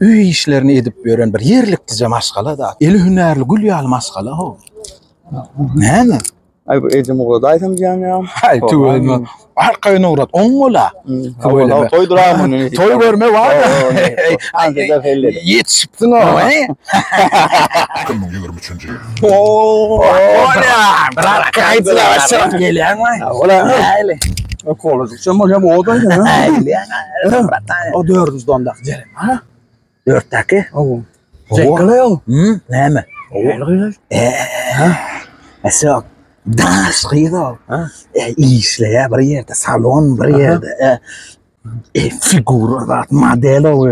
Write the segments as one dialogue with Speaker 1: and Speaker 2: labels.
Speaker 1: Öý işlerini edip ýören bir ýerlikdije maşgala da. Eli hünärli gül ýaly maşgala ho. Näme? Ay bu edim ugrada aýsam diýen ya. Ay tüwelme. Ar kaýyna ugrat. On gola. Howala toy duramyn. Toy görme bar. Andy da helle. Yetişipsin o. Kim bu ýürim üçünji? Oo. Ola. Bırak kaýdyla başlap gelýän mi? Ola. Hale. Okolaj. Şomal hem o da ya. O dördüncü donda güzel. Ha? Dörtteki. O. Zekle o. Hı? Ne mi? O. Eee. Mesela dans kıyız o. E, işleye bir yerde, salon bir yerde. E, e, figura zat, model o.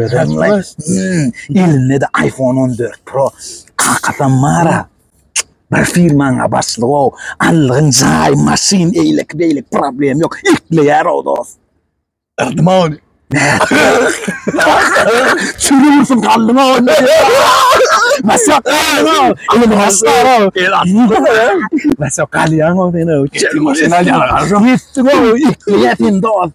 Speaker 1: Elinde de iPhone 14 Pro. Kakasam var ha. Bir firmaňa başlyk ol, allygyň jaý, maşyn, eýleki beýleki problem ýok. Ekleýär o dost. Yrdyň ony. Çürüwsin galdyň ony. Masa. Ýa masa. Masa galýaň ony ýa. Maşyn alýaň. Ýa sen dost.